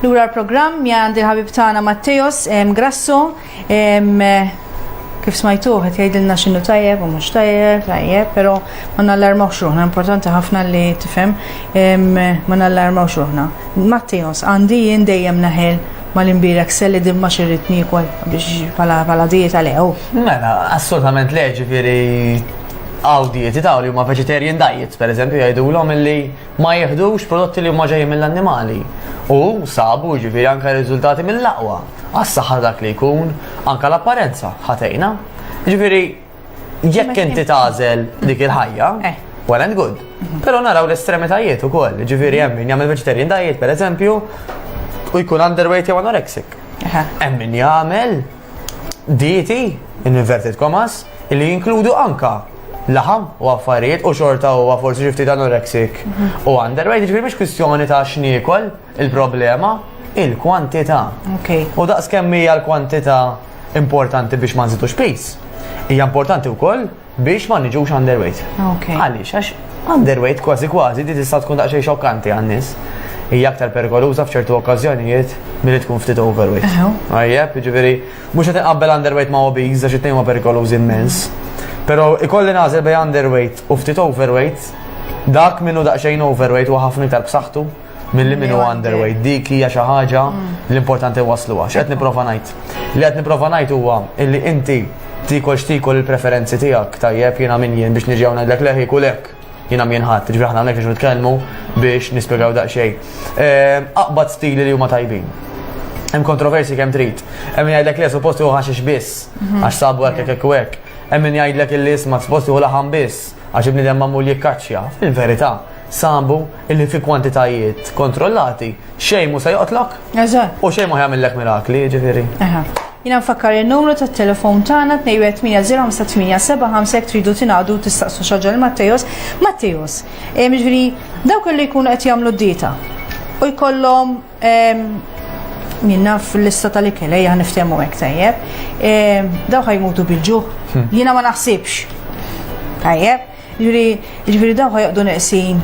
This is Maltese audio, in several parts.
Lura l-programm għandi ħabib tagħna Matteos Grasso kif smajtu qed jgħidilna x'inhu tajjeb u mhux tajjeb, tajjeb, però ma nallarmawx ruħna, importanti ħafna li tifhem ma nallarmawx ruħna. Matteos għandi jien dejjem naħel mal-imbirek selli dimma xirrit nikol biex pala dieta lew. Mela, assolutament leġi veri Hawn dieti ta' li huma vegetarian diets, pereżempju jgħidulhom illi ma jieħdux prodotti li huma ġejjin mill-annimali. U sabu jiġifieri anke riżultati mill-aqwa għas-saħħa ta' dak li jkun, anke l-apparenza ħa tgħinha. Jiġifieri jekk inti tagħżel dik il-ħajja, eh. well and good. Mhm. Però naraw l-estremitajiet ukoll, jiġifieri hemm min jagħmel vegetarian diet pereżempju u jkun underweight jew anorexic. Hemm min jagħmel dieti, in inverted commas, li jinkludu anka laħam u affarijiet u xorta u forsi xifti ta' anorexic mhm. u underweight, ġifiri miex kwistjoni ta' xniekol il-problema, il-kwantita. U daqs kemmi hija l-kwantita importanti biex ma nżidux pis. Hija importanti wkoll biex ma niġux underweight. Għaliex, għax underweight kważi kważi di tista' tkun daqsxejn xokkanti għan-nies. Hija aktar perikoluża f'ċertu okkażjonijiet milli tkun ftit overweight. Għajjeb, jiġifieri mhux qed inqabbel underweight ma' obese għax it-tnejn huma perikolużi immens. Però ikolli nagħżel bejn underweight u ftit overweight, dak minnu daqsxejn overweight huwa ħafna iktar b'saħħtu. Milli min huwa underweight dik hija xi ħaġa mm. l-importanti wasluha. X'qed nipprova ngħid? Li qed nipprova ngħid huwa illi inti tikol x'tikol il-preferenzi tiegħek tajjeb jiena min jien biex niġi ngħidlek leħi kulek jina mienħat, ġifri ħna għamnek nitkellmu biex nispiegaw daqxej. Eh, aqbad stili li huma tajbin hemm kontroversi kemm trid. Hemm jgħidlek li suppost hu ħaxix biss mhm. għax sabu hekk hekk hekk. Hemm min jgħidlek li isma' suppost hu laħam biss għax ibni hemm mamul jikkaċċja. Fil-verità, sambu illi fi kwantitajiet kontrollati xejn mhu se joqtlok. Eżatt. U xejn ma jagħmillek mirakli, ġifieri. Aha. Jina nfakkar il-numru ta' telefon tagħna 21805 tridu tingħadu tistaqsu xaġa l-Mattejos. Mattejos, eh, ġifieri dawk li jkunu qed jagħmlu d-dieta u jkollhom ehm, min naf l-lista tal-ikel, ejja niftehmu hekk tajjeb. Ehm, dawk ħajmutu bil-ġuħ. Hmm. Jiena ma naħsibx. Tajjeb. Jiġifieri, jiġifieri dawk ħajqdu neqsin.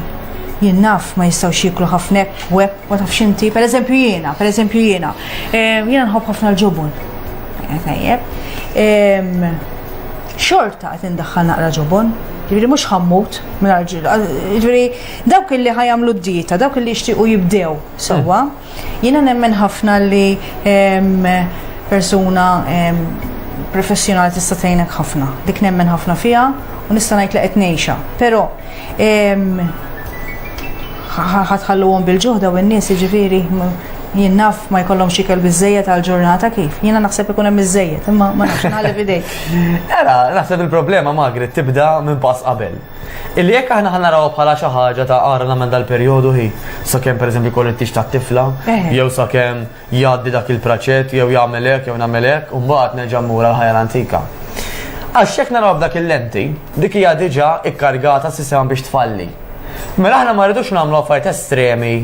Jien naf ma jistgħux jieklu ħafna hekk u hekk, ma tafx inti, pereżempju jiena, pereżempju jiena. Ehm, jiena nħobb ħafna l-ġobon. Eh, tajjeb. Ehm, xorta qed indaħħal naqra ġobon, ġifieri mhux ħammut mingħajr ġil. Ġifieri dawk illi ħajamlu d-dieta, dawk illi jixtiequ jibdew sewwa. Jiena nemmen ħafna li persuna professjonali tista' tgħinek ħafna. Dik nemmen ħafna fiha u nista' ngħid li qed ngħixha. Però ħatħalluhom bil-ġuħda u n-nies jiġifieri jien naf ma jkollhom xikel biżejjed għal ġurnata kif. Jiena naħseb ikun hemm biżejjed, imma ma nafx nħalli f'idejk. Era, naħseb il-problema Magri tibda minn pass qabel. Illi jekk aħna ħa narawha bħala xi ħaġa ta' ara nagħmel dal-perjodu hi, sakemm pereżempju jkollu t-tix tat-tifla, Eh. jew sakemm jgħaddi dak il-praċett, jew jagħmel hekk, jew nagħmel hekk, u mbagħad nerġa' mmur għal ħajja l-antika. Għax jekk narawha b'dak il-lenti, dik hija diġà ikkargata s-sistema biex tfalli. Mela aħna ma rridux nagħmlu affarijiet estremi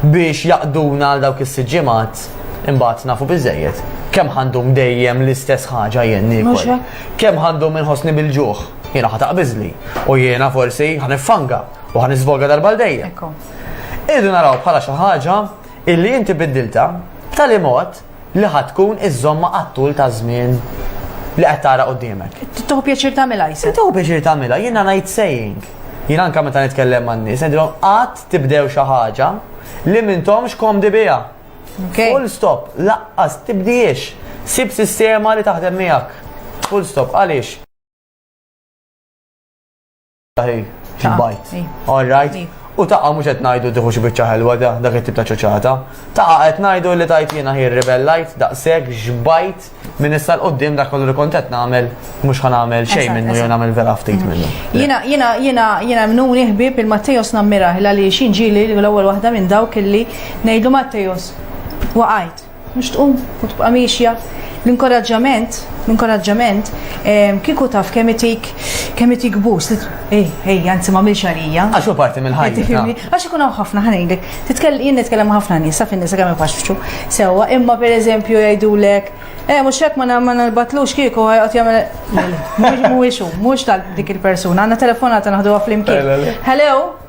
biex jaqduna għal dawk is-sitt ġimgħat imbagħad nafu biżejjed. Kemm ħandum dejjem l-istess ħaġa jien Mhux niekol. hekk? Kemm ħandum inħossni bil-ġuħ? Jiena ħa taqbiżli u jiena forsi ħa niffanga u ħa nisvolga darba l dejjem. Irridu naraw bħala xi ħaġa illi inti biddilta b'tali mod li ħad tkun iż-żomma għat-tul ta' żmien li qed tara qudiemek. Tuħu pjaċir tagħmilha jsa. Tuħu pjaċir tagħmilha, jiena ngħid saying. Jien anke meta nitkellem man-nies, ngħidilhom qatt tibdew xi ħaġa li mintomx komdi biha. Full stop, laqqas tibdiex. Sib sistema li taħdem miegħek. Full stop, għaliex? Bajt. All right. U taqa mux qed ngħidu tieħu xi biċċa ħelwa da dak it-tip ta' ċoċata. Taqa qed ngħidu li tajt jiena ħir rebellajt daqshekk xbajt minn issa l-qudiem dak kollu li kont qed nagħmel mhux ħa nagħmel xejn minnu jew nagħmel vera ftit mm. minnu. Jiena jiena jiena jiena mnuni ħbieb il-Mattejos nammiraħ li xi ġieli l-ewwel waħda minn dawk illi ngħidu Mattejos waqajt. Mhux tqum u tibqa' miexja. L-inkoraġġament, l-inkoraġġament ehm, kieku taf kemm itik kemm itik bus. Ej, ej, anzi ma milx għalija. Għax hu parti mill-ħajja. Għax ikun hawn ħafna ħanejlek. Titkellem jien nitkellem ħafna nies, sa fin-nisa kemm ifaxxu. Sewwa, imma pereżempju jgħidulek, eh mhux hekk ma ma nalbatlux kieku ħajqgħod jagħmel. Mhux mhuwiex hu, mhux tal dik il-persuna. Għandna telefonata naħduha flimkien. Hello?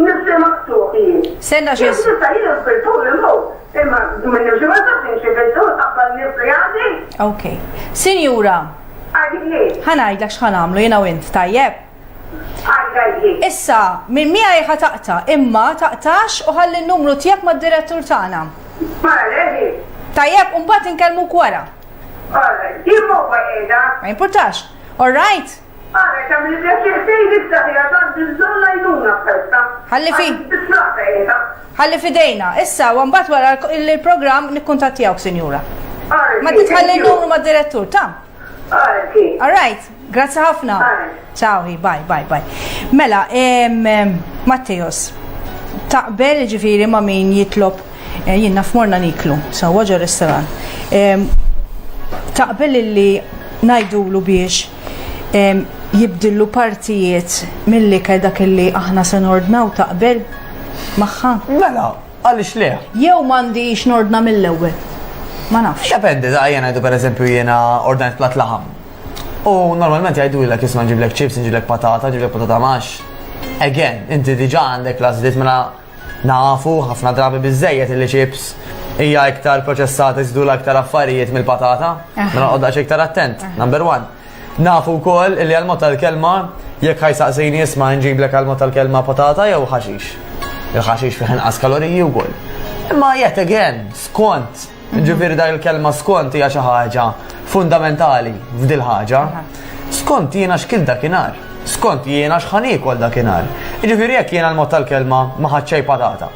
Nifsi maqtuħ jien. Senna xie. Jien nista jien fil-tul il-mut. Imma minn nimxi ma tafx nimxi fil-tul qabbal nifsi għandi. Ok. Sinjura. Għadini. Ħanajdlek xħan għamlu jina u int, tajjeb? Issa, minn mija jħa taqta, imma taqtax u ħalli n-numru tijak ma d-direttur tagħna. Tajjeb, un bat nkellmu kwara. Ma importax. All right? Ara kemm li pjaċir tgħid issa fiha tant li bżonn l-għajnuna f'festa. Ħalli fi. Tiflaqa qiegħda. Ħalli f'idejna. Issa, u mbagħad wara l-programm nikkuntattjawk, Sinjura. Ma titħalli n-numru mad-direttur, ta'? All right, grazzi ħafna. Ciao, bye, bye, bye. Mela, Matteos, taqbel ġifiri ma' min jitlob eh, jien naf morna niklu, sa' waġa restaurant. Taqbel li najdulu biex jibdillu partijiet mill-ikel dak li aħna se nordnaw taqbel magħha? Mela, għaliex le? Jew m'għandix nordna mill-ewwel. Ma nafx. Dependi, da jena jdu per eżempju jena ordnajt plat laħam. U normalment jgħidu l-ek jisma ġiblek ċips, ġiblek patata, ġiblek patata max. Again, inti diġa għandek lażlit mela Nafu, ħafna drabi biżżejjed illi chips hija iktar proċessata jżidulha iktar affarijiet mill-patata, mela noqgħod daqsxejn iktar attent, number one. Nafu wkoll illi għal-mod tal-kelma jekk ħajsaqsini isma' nġiblek għal-mod tal-kelma patata jew ħaxix. Il-ħaxix fih inqas kaloriji wkoll. Imma yet again, skont Ġifieri dak il-kelma skont hija xi ħaġa fundamentali f'dil ħaġa. Skont jiena x'kil dakinhar. Skont jiena x'ħan iekol dakinhar. Ġifieri jekk jiena l-mod tal-kelma ma ħadd xejn patata.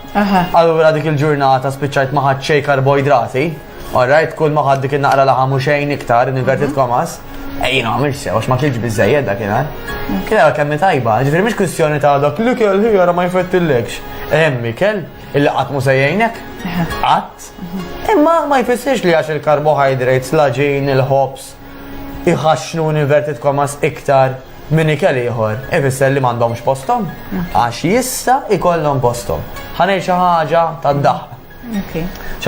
Allura dik il-ġurnata spiċċajt ma ħadd xejn karboidrati. Alright, kull ma ħadd dik in-naqra laħam u xejn iktar, inverted komas. Ejjin għamil sew, għax ma kienx bizzejed dak jena. Kien għal kemmi tajba, ġifiri mux kwistjoni ta' dak li kell ħijara ma jfettillekx. Emmi kell, il-li għatmu sejjajnek, għat, Imma ma jfissirx li għax il-carbohydrates, l-għaġin, il-ħobż, iħaxxnu inverted commas iktar minn ikel ieħor, ifisser li m'għandhomx posthom, għax jista' ikollhom posthom. Ħanej xi ħaġa tad-daħq.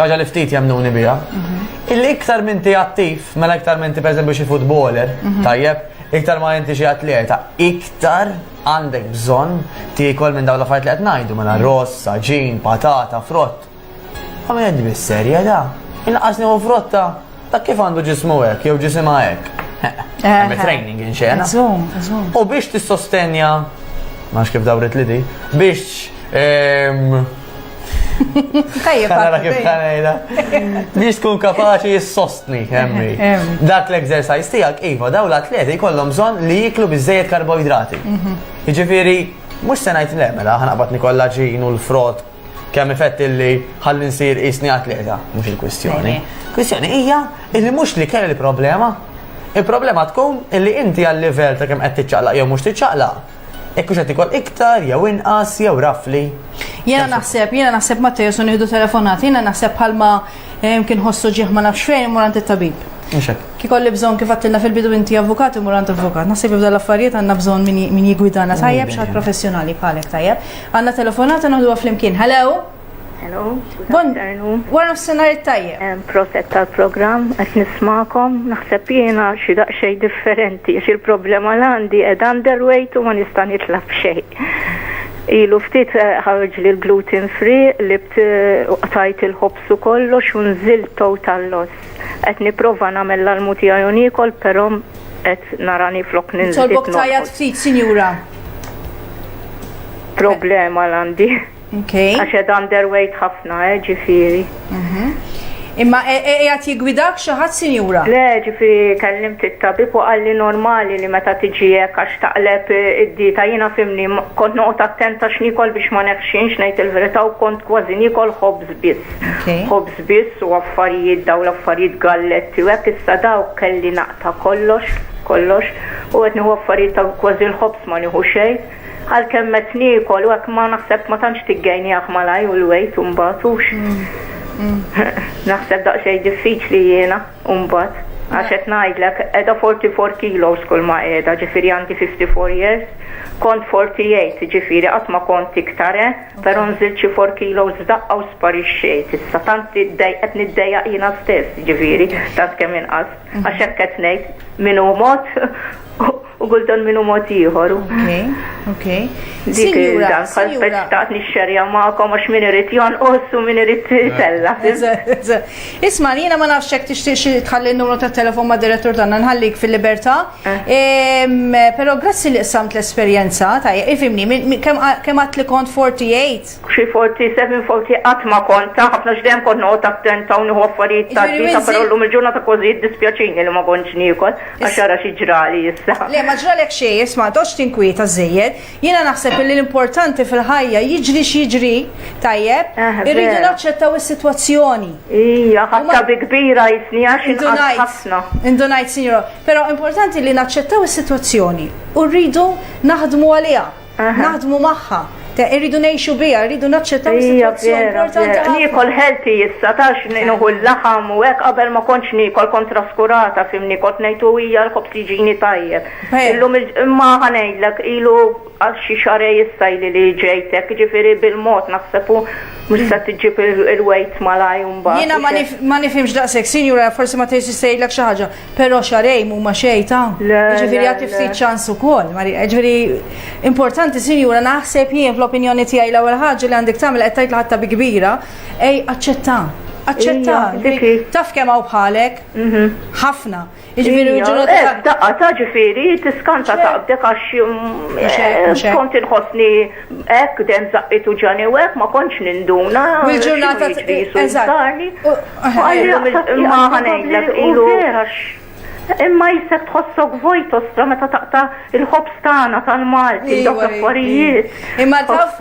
ħaġa li ftit jemnuni biha. Mhm. Illi iktar minn ti attiv, mela iktar minn ti pereżempju xi futboler, mhm. tajjeb, iktar ma inti xi atleta, iktar għandek bżonn tiekol minn dawn l-affarijiet li qed ngħidu mela rossa, ġin, patata, frott. Għamilt bis-serjetà, inqas nieħu frotta ta' kif għandu ġismu hekk jew ġisimha hekk. Hemm training in xena. U biex tissostenja, ma kif dawret li di, biex ehm, Tajjeb, għara kif kanajda. Biex tkun kapaċi jissostni, emmi. Dak l-exercise tijak, Iva, daw l-atleti kollom bżon li jiklu bizzejet karboidrati. Mhm. Iġifiri, mux senajt l-emela, ħanaqbat nikolla ġin u l-frott Kemm ifett illi ħalli nsir qisni atleta, mhux il-kwistjoni. Kwistjoni hija illi mhux li kelli problema. Il-problema tkun illi inti għal livell ta' kemm qed tiċċaqlaq jew mhux tiċċaqlaq. Jekk mhux qed ikol iktar jew inqas jew rafli. Jiena naħseb, jiena naħseb ma tejesu nieħdu telefonat, jiena naħseb bħalma eh, kien ħossu ġieħ ma nafx fejn imur għand it-tabib. Kikolli bżon kif għattilna fil-bidu inti avukat imur għand avukat. Naħseb jibda l-affarijiet għandna bżon min jigwidana tajjeb xaħat professjonali bħalek tajjeb. Għanna telefonata noħduha flimkien. Hello? Hello? Bon, wara nofsinhar it-tajjeb. Proset tal-programm qed nismakom, naħseb jiena xi daqsxejn differenti għax il-problema l għandi qed underweight u ma nista' nitlab xejn. Ilu ftit eh, ħarġ li l-gluten free li eh, tajt il-ħobsu kollox u nżil total loss. Qed nipprova nagħmel l-almu tiegħi u niekol però qed narani flok ninżel. Nitolbok tajjat ftit, sinjura. Problema l-għandi. Okay. Għax qed underweight ħafna, eh, ġifieri. Mhm. Imma e- e- qiegħed jigwidak xi ħadd sinjura? Le, ġifi kellim it-tabib u qalli normali li meta tiġi hekk għax taqleb id-dieta jiena fimni kont noqgħod attenta x'nikol biex ma neħxinx ngħid il-verità u kont kważi nikol ħobż biss. Ħobż biss u affarijiet dawn l-affarijiet galletti u hekk issa dawk kelli naqta' kollox, kollox u qed nieħu affarijiet ta' kważi l-ħobż ma nieħu xejn. Għalkemm qed niekol u hekk imma naħseb ma tantx tiggejniah malajr u l-wejt u mbagħad hux. Naħseb daqsxejn diffiċli jiena u mbagħad għax qed ngħidlek qiegħda 44 kilos kull ma qiegħda ġifieri għandi 54 years kont 48 ġifieri qatt ma kont iktar eh. Però nżilt xi four kilos f'daqqa u sparixxejt. Issa tant qed niddejjaq jiena stess, jiġifieri, tant kemm inqast. Għax hekk qed ngħid, min hu mod u kultant min hu mod ieħor. Okej, okej. Dik dan bħal speċtat nixxerja magħkom għax min irid jonqos u min irid itella. Isma' jiena ma nafx hekk tixtieq xi tħalli n-numru tat-telefon mad-direttur tagħna nħallik fil-libertà. Pero grazzi li qsamt l-esperjenza, tajja, ifimni, kem għat li kont 48? Xi 47, 40 għat ma kont, ta' ħafna xdem kont noqgħod attenta u nieħu affarijiet ta' dita, pero l-lum il-ġurnata kważi jiddispjaċini li ma kontx niekol, għax ara xi ġrali issa. Le, ma ġralek xejn, isma' toqgħodx tinkwieta żejjed, Jiena naħseb illi l-importanti fil-ħajja jiġri x'jiġri, tajjeb, Eh, irridu vera. naċċettaw is-sitwazzjoni. Ija, ħatta Huma- bi kbira jisni għax Indu inqas ngħid, ħafna. indu ngħid, sinjura, però importanti li naċċettaw is-sitwazzjoni u rridu naħdmu għaliha, Aha. naħdmu magħha, te- irridu ngħixu biha, rridu naċċettaw Ija, is-sitwazzjoni vera, importanti vera. ħafna. Nikol healthy issa, tax nuhu l-laħam u hekk qabel ma kontx nikol kontra skurata, fimni kont nejtu ija l-kobs jiġini tajjeb. Illum imma ħanejdlek ilu għal xi xarej issa ili li ġejtek, ġifieri bil-mod naħseb u mhux se tiġġib il-weight malaj mbagħad. Jiena ma nifhimx daqshekk, sinjura forsi ma tgħidx se jgħidlek xi ħaġa, però xarejn huma xejn ta' ġifieri għad ftit ċans ukoll. Ġifieri importanti sinjura naħseb jien fl-opinjoni tiegħi l-ewwel ħaġa li għandek tagħmel qed tgħid ħatta bi kbira, ej aċċetta. Aċċetta. Taf kemm hawn bħalek? Mhm. Ħafna. Jiġifieri ġurnata. Eh, daqqa ta' ġifieri tiskanta taqbdek għax mm, eh, kont inħossni hekk dem zaqqit u ġani u hekk ma kontx ninduna. Mill-ġurnata eżatt. Ma ħanejlek ilu. Imma jisek tħossok vojt ostra meta taqta il-ħobs tagħna tal-Malti, dawk affarijiet. Imma taf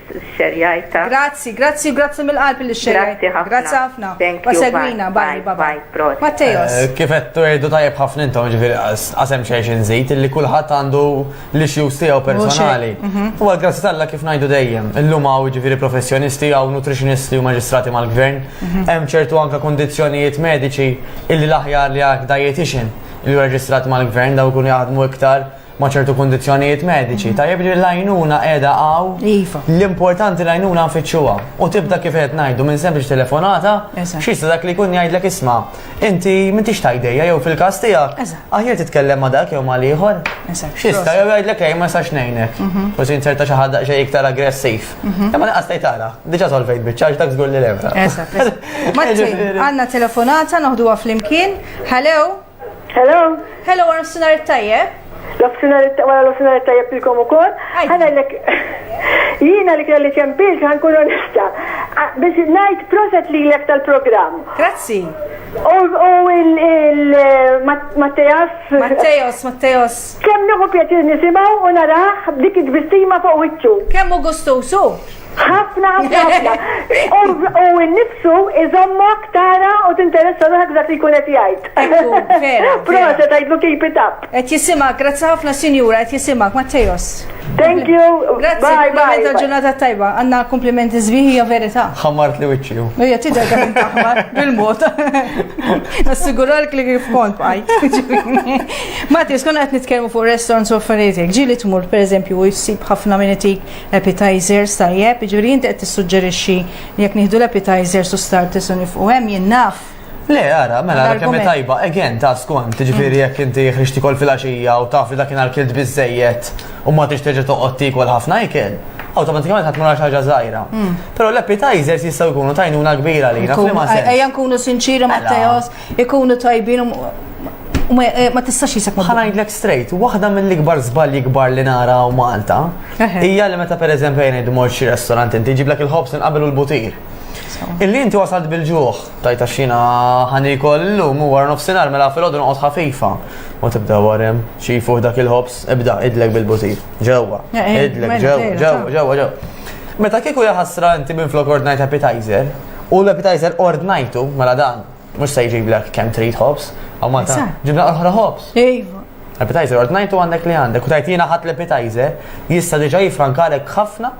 xxerjajtha. Grazzi, grazzi u grazzi mill-qalb li xxerjajtha. Grazzi ħafna. Thank you. U segwina. Bye, bye bye. Prosit. Matteos. Kif qed tgħidu tajjeb ħafna intom, jiġifieri qas hemm xejn xi nżid, illi kulħadd għandu l-issues tiegħu personali. U għal grazzi t'Alla kif ngħidu dejjem, illum hawn jiġifieri professjonisti hawn nutritionisti u maġistrati mal-gvern, hemm ċertu anke kundizzjonijiet mediċi illi l-aħjar li għal dietitian li hu reġistrat mal-gvern dawn ikunu jaħdmu iktar ma' ċertu kundizzjonijiet mediċi, tajjeb li l-għajnuna qiegħda hawn. Iva. L-importanti l-għajnuna nfittxuha u tibda kif qed ngħidu minn sempliċ telefonata, Eżatt. xi jista' dak li jkun jgħidlek isma' inti m'intix tajdejja jew fil-każ tiegħek, Eżatt. aħjar titkellem ma' dak jew ma' l-ieħor. Eżatt, Xi jista' proset. jew jgħidlek ej ma nistax ngħinek. U se jinserta xi ħadd daqsxejn iktar aggressiv. Imma naqas tgħid ara, diġà solvejt biċċa għax dak żgur li l-ebra. Eżatt, eżatt. Martin, għandna telefonata noħduha flimkien. Hello, Hello? Hello, għar sinar tajjeb? L-ofsinar wara l-ofsinar tajjeb ilkom ukoll. Ħana lek jiena li kelli ċempilx ħankun onesta. Biex ngħid proset li lek tal-programm. Grazzi. U il-Mattejas. Mattejas, Mattejas. Kemm nieħu pjaċir nisimgħu u naraħ dik id-bistima fuq wiċċu. Kemm u gustusu? Ħafna, ħafna, ħafna. U n-nifsu iżommok tara u tinteressa ruħek dak li jkun qed jgħid. Proset għidlu keep it up. Qed jisimak, grazzi ħafna sinjura, qed jisimak, Mattejos. Thank you. Grazzi, kumpliment ta' ġurnata tajba. Għanna komplimenti zbiħi hija verità. Ħammart li wiċċi. Hija tidher ta' taħmar bil-mod. Nassiguralk li kif kont bajt. Mattejos, konna qed nitkellmu fuq restaurants u affarijiet. Ġieli tmur pereżempju u jsib ħafna minn itik Appetizers, tajjeb, jiġifieri inti qed tissuġġerixxi li jekk nieħdu l-appetizers u starters u nifqu hemm jien naf Le, ara, mela, ara kemm tajba, again, ta' skont, ġifiri jekk inti jħriġ tikol fil-axija u taf li dakin għal-kilt bizzejiet u ma tix teġa toqgħod tikol ħafna ikel, automatikament ħadd mara ħaġa żgħira. Hmm. Però l-appetizers jistgħu jkunu tajnuna kbira li naf li ma Ejja nkunu sinċiri ma' Teos, ikunu tajbin u ma tistax jisek ma. Ħanajdlek straight, waħda mill-ikbar żbalji kbar li nara u Malta hija li meta pereżempju jien idmor xi restorant inti ġiblek il-ħobs inqabel u l-butir. Illi inti wasalt bil-ġuħ, tajta xina ħanikol l-lum u għar nofsinar mela fil-ħodu nqot ħafifa. U tibda warem, xifu dak il-ħobs, ibda idlek bil-butir. Ġewa, eh, eh, idlek, ġewa, ġewa, ġewa, ġewa. Meta kieku jaħasra inti minn flok ordnajt appetizer, U l-appetizer ordnajtu, mela dan, mux se jġiblek kem trid hops, għaw ma ta' ġibna oħra hops. Ejva. Appetizer ordnajtu għandek li għandek, u tajt jina ħat l-appetizer, jista diġa jifrankalek ħafna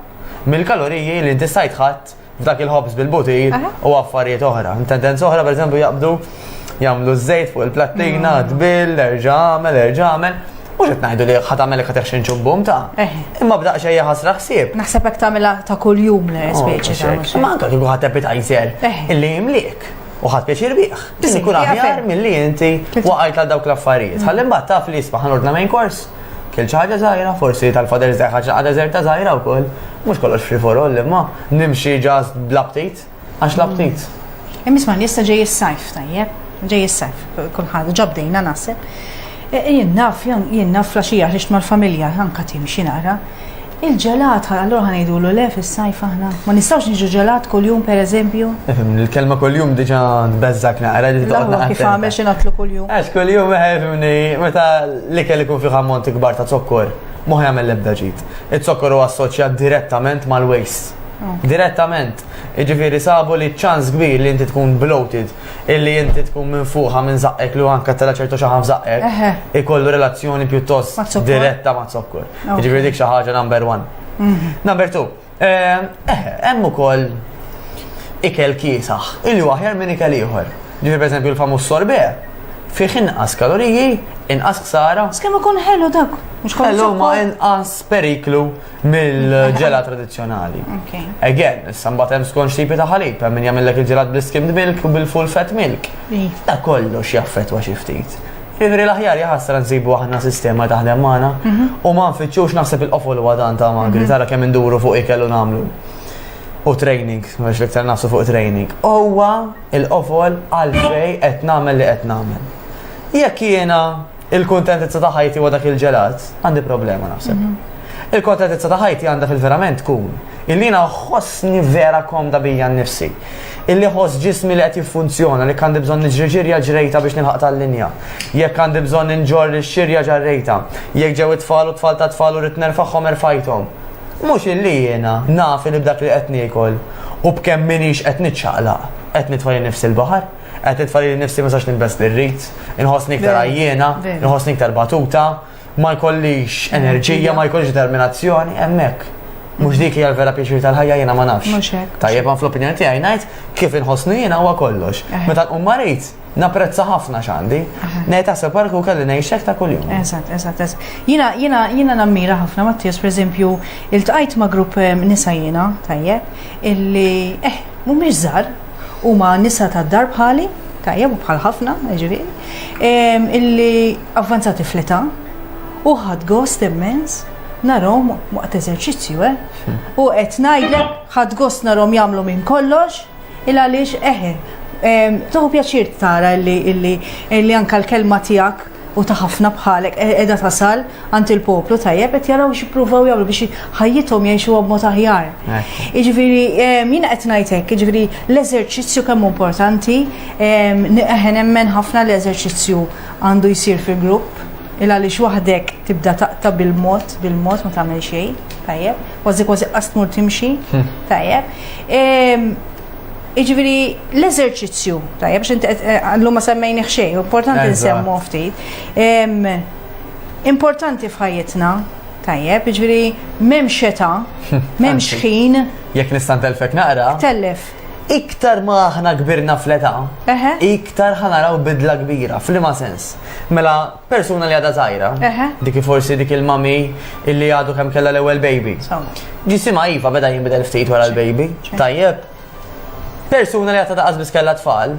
mill-kaloriji li inti stajt ħat f'dak il-hops bil-butir u affarijiet oħra. Tendenza oħra, per eżempju, jaqbdu jagħmlu ż-żejt fuq il-plattina, mm. tbil, erġa' għamel, erġa' għamel. Mux qed ngħidu li ħadd għamel ka teħxin ċubbum ta'. Eh. Imma bda xejja ħasra ħsieb. Naħseb hekk tagħmilha ta' kuljum l oh, speċi ta' Ma anke kieku ħadd appetizer eh. illi jimliek u ħadd pjaċir bih. Tisni kun aħjar milli inti waqajt għal dawk l-affarijiet. Ħalli mbagħad taf li jisma' ħanordna main kors. Kil ċaġa zaħira, forsi tal-fader zaħħa ċaħda zerta zaħira u koll. Mux kollox free for all, imma nimxi ġast bl-aptit. Għax l-aptit. Immis ma jista ġej is-sajf tajjeb, ġej is-sajf, kulħadd ġabdejna naħseb. E, e, jien naf, jien naf flaxija ħriġt mal-familja, anka timxi nara. Il-ġelat, allora ħanajdu l le fis-sajf aħna. Ma nistgħux niġu ġelat kuljum pereżempju. Ifhem, il-kelma kuljum diġà tbeżżak naqra li toqgħod Kif għamel xi natlu kuljum. Għax kuljum ifhimni eh, meta l-ikel ikun fih ammont ikbar ta' zokkor, ma jagħmel l-ebda ġid. Iz-zokkor huwa assoċjat direttament mal-waste. Direttament. Jiġifieri sabu li ċ-ċans kbir li inti tkun bloated, illi inti tkun minfuħa minn żaqqek li anke tela' ċertu xaħam f'żaqqek, ikollu relazzjoni pjuttost diretta ma' zokkor. Jiġifieri dik xi ħaġa number one. Mhm. Number two, eh, eh, hemm ukoll ikel kiesaħ, illi aħjar minn ikel ieħor. Ġifieri pereżempju l-famuż sorbè, fih inqas kaloriji, inqas ksara. Skemm ikun ħelu dak, mhux kaloriji. Ħelu ma inqas periklu mill-ġela tradizzjonali. Again, issa mbagħad hemm skont xipi ta' ħalib, hemm min jagħmellek il-ġelat bl-skimmed milk u bil-full fat milk. Ta' kollox jaffettwa xi ftit. Ivri l-aħjar jaħasra nsibu aħna sistema taħdem magħna mhm. u ma nfittxux naħseb il-qofol u għadan ta' magri, mhm. tara kemm induru fuq ikel u nagħmlu. U training, mhux li ktar nafsu fuq training. Huwa il-qofol għalfej qed nagħmel li qed nagħmel. Jekk jiena il-kuntentizza ta' ħajti huwa dak il-ġelat, għandi problema naħseb. Mhm. Il-kontentizza ta' ħajti għandha fil-verament tkun illi ħossni vera komda bija nnifsi. Illi ħoss ġismi li qed jiffunzjona li għandi bżonn niġri ġirja ġrejta biex nilħaq tal-linja. Jekk għandi bżonn inġor li xirja ġarrejta. Jekk ġew it-tfal u tfal ta' tfal u rrid nerfagħhom erfajthom. Mhux illi jiena naf li b'dak li qed niekol u b'kemm minix qed niċċaqlaq qed nitfa' nifsi l-baħar. Qed nitfa' lili nnifsi ma sax nilbes li rrid, inħossni iktar għajjiena, inħossni iktar batuta, ma jkollix enerġija, ma jkollix determinazzjoni, hemmhekk. Mhux dik hija l-vera pjaċir tal-ħajja jiena ma nafx. Tajjeb ma fl-opinjoni tiegħi ngħid kif inħossni jiena huwa kollox. Eh. Meta nqum marid, napprezza ħafna x'għandi. Eh. Ngħid taħseb parku kelli ngħixek ta' kuljum. Eżatt, eżatt, eżatt. Jiena jiena jiena nammira ħafna Mattias, pereżempju, iltqajt ma' grupp eh, nisa jiena tajjeb illi eh mhumiex żgħar, Huma nisa tad-dar bħali, tajjeb u bħal ħafna, ġifieri, ehm, illi avvanzati fl-età u ħad gost immens narom waqt eżerċizzju, eh? Hmm. U qed ngħidlek ħad gost narom jagħmlu minn kollox, il għaliex eħe, ehm, toħu pjaċir tara illi anka l-kelma tiegħek u ta' ħafna bħalek e- edha tasal għand il-poplu tajjeb qed jaraw x'jippruvaw jagħmlu biex ħajjithom jgħixuha b'mod aħjar. Jiġifieri em, jiena qed ngħid hekk, jiġifieri l-eżerċizzju kemm importanti, em, ni- eħe nemmen ħafna l-eżerċizzju għandu jsir fil-grupp, il għaliex waħdek tibda taqta bil-mod, bil-mod ma tagħmel xejn, tajjeb, kważi kważi qas tmur timxi, tajjeb. Em, Jiġifieri l-eżerċizzju, tajjeb biex inti llum ma semmejni xejn, importanti nsemmu ftit. Importanti f'ħajjitna, tajjeb, jiġifieri m'hemmx xeta, m'hemmx ħin. Jekk nista' ntelfek naqra. Tellef. Iktar ma aħna kbirna fl-età, iktar ħanaraw bidla kbira, f'liema sens. Mela persuna li għadha żgħira. Dik forsi dik il-mami illi għadu kemm kellha l-ewwel baby. Ġisimha iva beda jinbidel ftit wara l-baby. Tajjeb. Persuna li għadha daqas biss kellha tfal,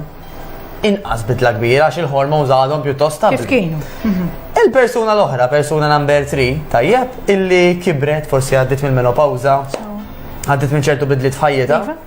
inqas bidla kbira għax il-hormons għadhom pjuttost ta' Kif kienu? Mhm. Il-persuna l-oħra, persuna number 3, tajjeb, illi kibret forsi għaddit mill-menopawza, għaddit minn ċertu bidliet f'ħajjita. Iva.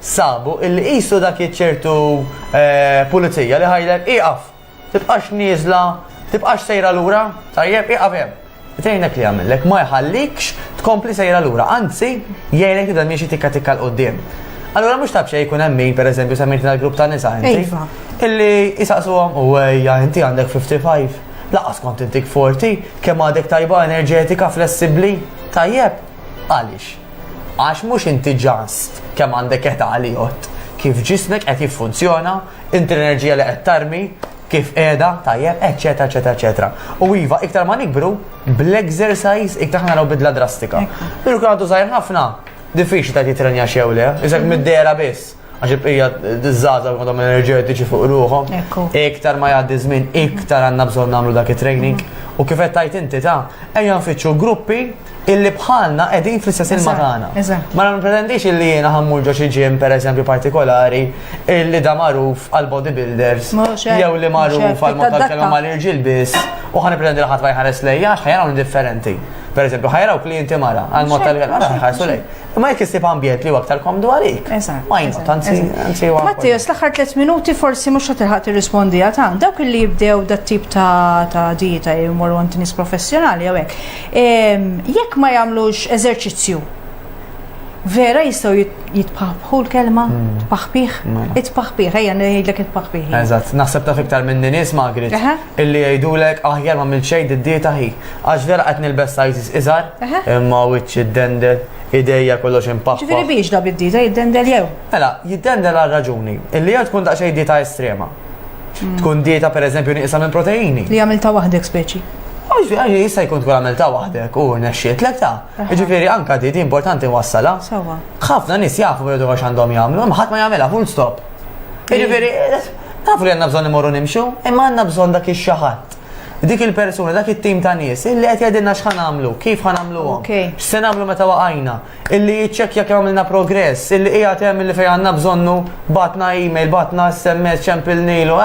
sabu illi qisu dak iċ-ċertu pulizija li ħajlek ieqaf, tibqax nieżla, tibqax sejra lura, tajjeb, ieqaf hemm. Tgħinek li jagħmillek ma jħallikx tkompli sejra lura, anzi jgħinek tibda miexi tikka tikka l-qudiem. Allura mhux taf xejn jkun hemm min pereżempju semmejt dal-grupp ta' nisa inti. Iva. Illi jisaqsuhom u ejja inti għandek 55, laqas kont intik 40, kemm għadek tajba enerġetika, flessibbli, tajjeb, għaliex? Għax mhux inti ġast kemm għandek età li jgħodd, kif ġismek qed jiffunzjona, inti l-enerġija li qed tarmi, kif qiegħda, tajjeb, eċċetera, eċċetera, eċċetera. U iva, iktar ma nikbru, bl-exercise iktar ħana naraw bidla drastika. Pero kien għadu żgħir ħafna, diffiċli ta' titrenja xew le, iżek mid-dera biss. għax il-bqija d-dizzaza u kodom enerġetiċi fuq ruħom. Iktar ma jgħaddi żmien, iktar għandna bżonn nagħmlu dak it-training. U kif qed tajt inti ta' ejja nfittxu gruppi illi bħalna qegħdin fl-istess ilma tagħna. Ma nipretendix illi jiena ħammur ġo xi ġim pereżempju partikolari illi da magħruf għal bodybuilders jew li magħruf għal mod tal-kelma mal-irġiel biss u ħan pretendi li ħadd ma jħares lejja għax ħajaraw differenti. Per eżempju, ħajraw klienti mara, għal mod tal-għal ħarsu lej. Imma jekk issib ambjent li huwa aktar komdu għalik. Eżatt. Why not? Anzi, anzi huwa. Mattias, l-aħħar tliet minuti forsi mhux qed tilħaq tirrispondi għal tant. Dawk li jibdew dat tip ta' ta' dieta jmorru għand nies professjonali jew hekk. Ehm, Jekk ma jagħmlux eżerċizzju, vera jistgħu jit- jitpaħbħu l-kelma, tpaħbih, Mela. itpaħbih, ejja ngħidlek itpaħbih. Eżatt, naħseb taf iktar minn nies magri. Aha. Illi jgħidulek aħjar m'għamilt xejn did-dieta hi. Għax vera qed nilbes sizes iżgħar, Eħe. imma wiċċ iddendel, idejja kollox impappa. Ġifieri biex da bid-dieta jiddendel jew. Mela, jiddendel għal raġuni, illi jew tkun daqsxejn dieta estrema. Tkun dieta pereżempju nieqsa minn proteini. Li għamilta waħdek speċi. Għax għax jista' jkun tkun għamilta waħdek u nexxiet lek ta'. Aha. Ġifieri anka di di importanti wassala. Sawa. ħafna nies jafu jridu għax għandhom jagħmlu, imma ħadd ma jagħmilha full stop. Jiġifieri, taf li għandna bżonn imorru nimxu, imma għandna bżonn dak ix-xaħat. Dik il-persuna, dak it-tim ta' nies, illi qed jgħidilna x'ħan għamlu, kif ħan għamluhom, x'se nagħmlu meta waqajna, illi jiċċekkja kemm għamilna progress, illi qiegħed hemm illi fejn għandna bżonnu batna email, batna SMS, ċempilnilu,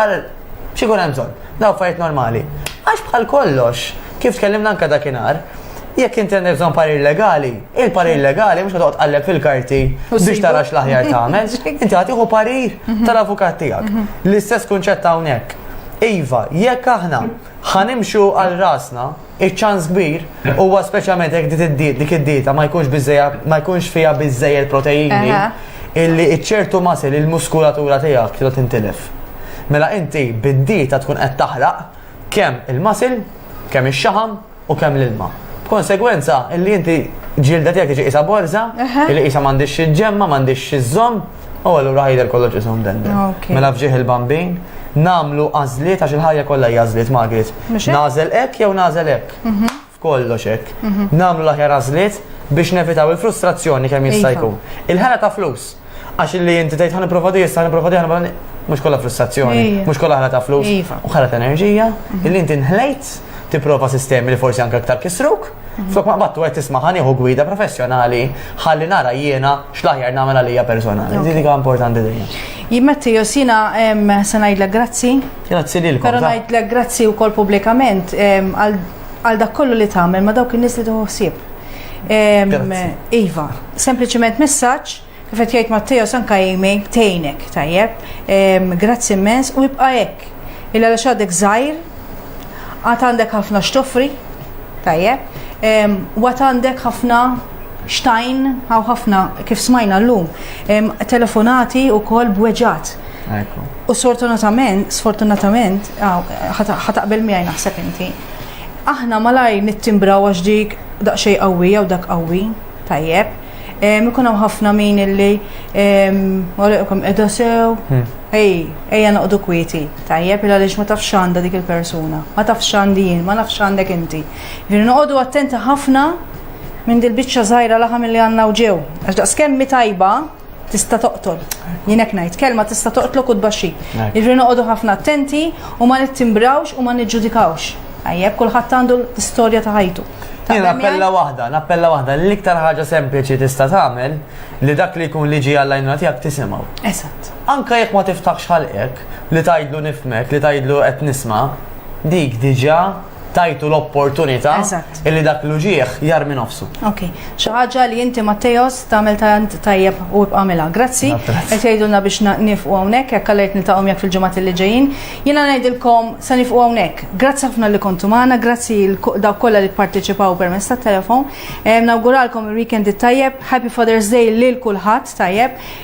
X'ikun hemm bżonn? Daw affarijiet normali. Għax bħal kollox, kif tkellimna anke dakinhar, jekk inti għandek bżonn parir legali, il-parir legali mhux toqgħod tqalleb fil-karti biex tara x'l-aħjar tagħmel, inti ħatiħu parir mhm. tal-avukat tiegħek. Mhm. L-istess kunċett hawnhekk. Iva, jekk aħna ħanimxu għal rasna, Iċ-ċans kbir huwa speċjalment jekk dit id-diet dik id-dieta ma jkunx biżejja ma jkunx fiha biżejjed proteini illi ċertu masil il-muskulatura tiegħek trid tintilef. Mela inti bid-dieta tkun qed taħraq kemm il-masil, kemm ix-xaħam u kemm l-ilma. B'konsegwenza illi inti ġilda tiegħek tiġi qisha borża, illi qisha m'għandix xi ġemma, m'għandix xi żomm, U allura għajder kollox isom dender. Mela fġieħ il-bambin, namlu għazliet għax il-ħajja kollha hija għażliet Margaret. Nażel hekk jew nażel hekk. Mhm. F'kollox hekk. Mhm. Namlu l-aħjar għażliet biex nevitaw il-frustrazzjoni kemm jista' jkun. Il-ħela ta' flus. Għax li inti tgħid ħan nipprova di, ħan nipprova di, ħan mhux kollha frustrazzjoni, mhux kollha ħela ta' flus, iva. u ħela ta' enerġija, mhm. illi inti nħlejt tipprova sistemi li forsi anke aktar kisruk. Flok ma battu għed tisma ħaniħu gwida professjonali ħalli nara jiena xlaħjar namela lija personali. Dini ka importanti dini. Jimmetti jos jina sanajdla grazzi. Grazzi li l-kom. Pero najdla grazzi u kol publikament għal dak kollu li tamel ma dawk il-nis li tuħsib. Iva, sempliciment messaċ Kif qed jgħid Matteo San Caime, tgħinek, tajjeb, grazzi immens u ibqa' hekk. Illa għaliex għadek żgħir, għad għandek ħafna x'toffri, tajjeb, u għad għandek ħafna xtajn, għaw ħafna kif smajna llum, telefonati u kol bweġat. U sfortunatament, sfortunatament, ħataqbel miegħi naħseb inti. Aħna malaj nittimbraw għax dik daqsxejn qawwi jew dak qawwi, tajjeb, Ikun hawn ħafna min illi għalikom edha sew, hmm. ej, ejja noqdu kwieti, tajjeb il għaliex ma tafx għandha dik il-persuna, ma tafx għandi jien, ma nafx għandek inti. Ġifieri noqogħdu attenti ħafna minn dil-biċċa żgħira laħam li għandna u ġew. Għax daqs kemmi tajba tista' toqtol. Jinek ngħid kelma tista' toqtlok u tbaxxi. Ġifieri noqogħdu ħafna attenti u ma nittimbrawx u ma niġġudikawx. Għajjeb kulħadd għandu l-istorja ta' ħajtu. Jien appella waħda, nappella waħda, l-iktar ħaġa sempliċi tista' tagħmel li dak li jkun liġi għall-għajnuna tiegħek tisimgħu. Eżatt. Anka jekk ma tiftaħx ħalqek li tgħidlu nifmek, li tgħidlu qed nisma', dik diġà tajtu l-opportunità illi dak l-uġieħ jar minn nofsu. Ok, xaħġa li inti Mattejos tamel tant tajjeb u bqamela. Grazzi, għet jajdunna biex nifqu għonek, għek għalajt nil-taqom jak fil-ġumat li ġejjin. Jiena ngħidilkom sa nifqu hawnhekk. Grazzi ħafna li kontu magħna, grazzi dawk kollha li pparteċipaw permezz tat-telefon. Nawguralkom il-weekend it-tajjeb, Happy Father's Day lil kulħadd tajjeb.